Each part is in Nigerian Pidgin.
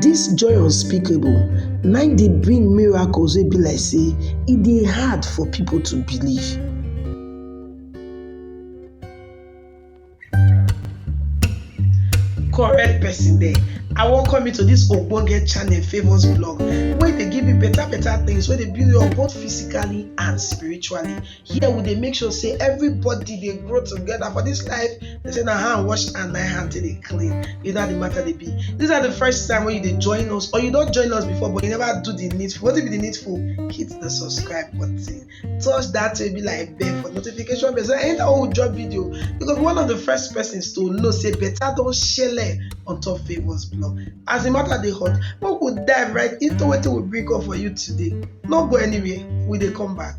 Dis joy unspeakable na im dey bring miracles wey be like sey e dey hard for pipu to believe. Correct person dem, I welcome you to dis ogbonge channel Favour's Blog wey dey give you better better things wey dey build you up both physically and spiritually. here we dey make sure say everybody dey grow together for this life they say na hand wash and na hand take dey clean you know how the matter dey be this na the first time wey you dey join us or you don join us before but you never do the needful wetin be the needful hit the subscribe button touch that way be like bell for notification bell so anytime wey we drop video you go be one of the first persons to know say better don shele on top favours blog as the matter dey hot make we dive right into wetin we bring up for you today no go anywhere we dey come back.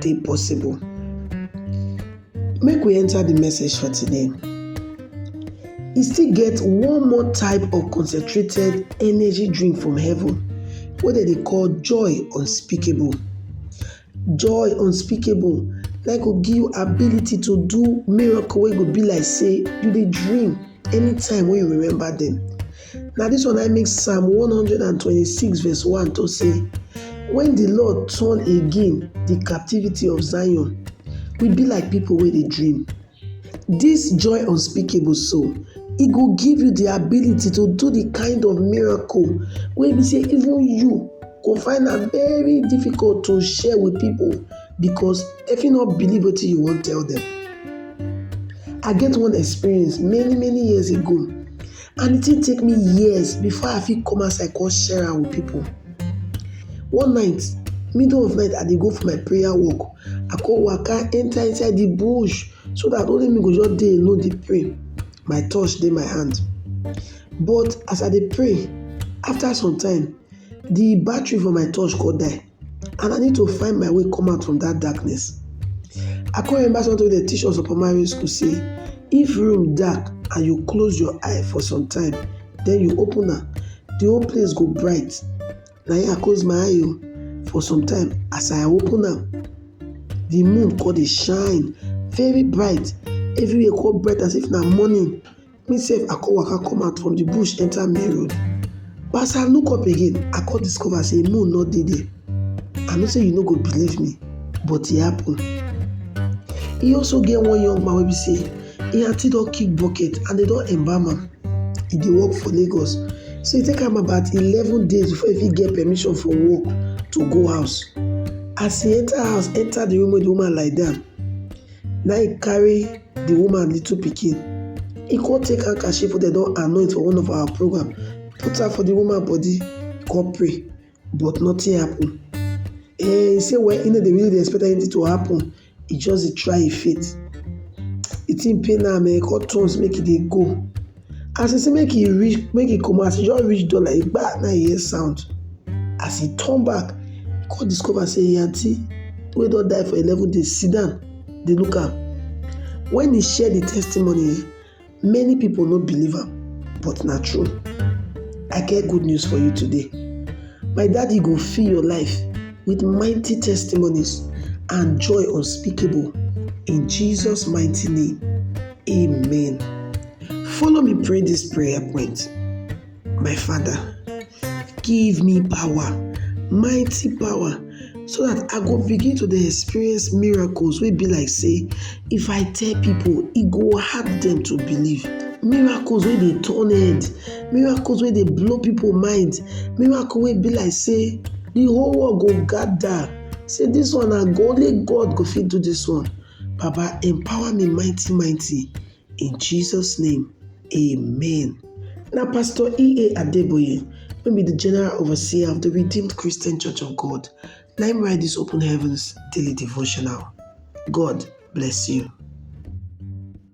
dey possible. Make we enter the message for today. E still get one more type of concentrated energy drink from heaven wey dem dey call joy unspeakable. Joy unspeakable na go give you ability to do miracle wey go be like sey you dey dream anytime wey you remember dem. Na dis one na im make Psalm one hundred and twenty-six verse one talk say, When the Lord turn again the captivity of Zion, we be like people wey dey dream. This joy unspeakable so, e go give you the ability to do the kind of miracle wey be say even you go find am very difficult to share with people because dem fit no believe wetin you wan tell them. I get one experience many many years ago. and di tin take me years before I fit come outside come share am with pipu. One night, middle of night I dey go for my prayer work, I come waka enter inside di bush so dat only me go just dey alone dey pray, my torch dey my hand. But as I dey pray, after some time, di battery for my torch come die. and I need to find my way come out from dat darkness. I come remember something wey dem teach us for primary school sey if room dark and you close your eye for some time then you open am, de whole place go bright. Na im I close my eye oo for some time as I open am de moon come dey shine very bright everywhere come bright as if na morning. Me sef I come waka come out from the bush enter main road. But as I look up again, I come discover say moon no dey there. I know say you no go believe me, but e happen. E also get one young man wey be say im aunty don kick bucket and dem don embalm am. E dey work for Lagos. So e take am about eleven days before e fit get permission for work to go house. As e enter house, enter the room wey the woman lie down, Na im carry the woman little pikin. He come take handkerchief wey dem don anoint for one of our program, put am for the woman body, come pray, but nothing happen. Eh, he say well, he no dey really dey expect anything to happen, he just dey try him faith. The thing pain am, he come turn make he dey go. As e say make e reach make e comot as e just reach door like dis gbaa na im e hear sound as e turn back e come discover say im aunty wey don die for eleven days sit down dey look am. When e share the testimony um many people no believe am but na true. I get good news for you today, my daddy go fill your life with mighty testimonies and joy unspeakable in Jesus mighty name. Amen. Follow me pray this prayer point. My Father, give me power, mighty power, so that I go begin to dey experience miracles wey be like say if I tell people, e go hard them to believe. Miracles wey dey turn head, miracles wey dey blow people mind, miracle wey be like say the whole world go gather say this one na only God go fit do this one. Baba empower me mighty mighty in Jesus name amen. Na Pastor EA Adeboye wey be di General Overseer of di Redeemed Christian Church of God na im write dis Open Heavens daily devotional. God bless you.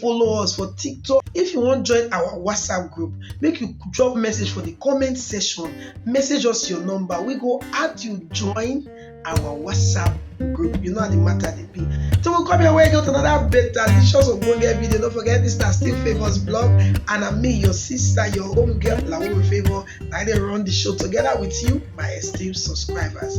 Follow us for TikTok. If you wan join our WhatsApp group, make you drop message for the comment section. Message us your number. We go add you join our WhatsApp group. You know how the matter dey be. Till we come your way again with another better delicious ogbonge video. Don't forget this na still favours blog and I'm me, your sister, your home girl, Lauru Favour. Na I dey run the show together with you, my esteemed subscribers.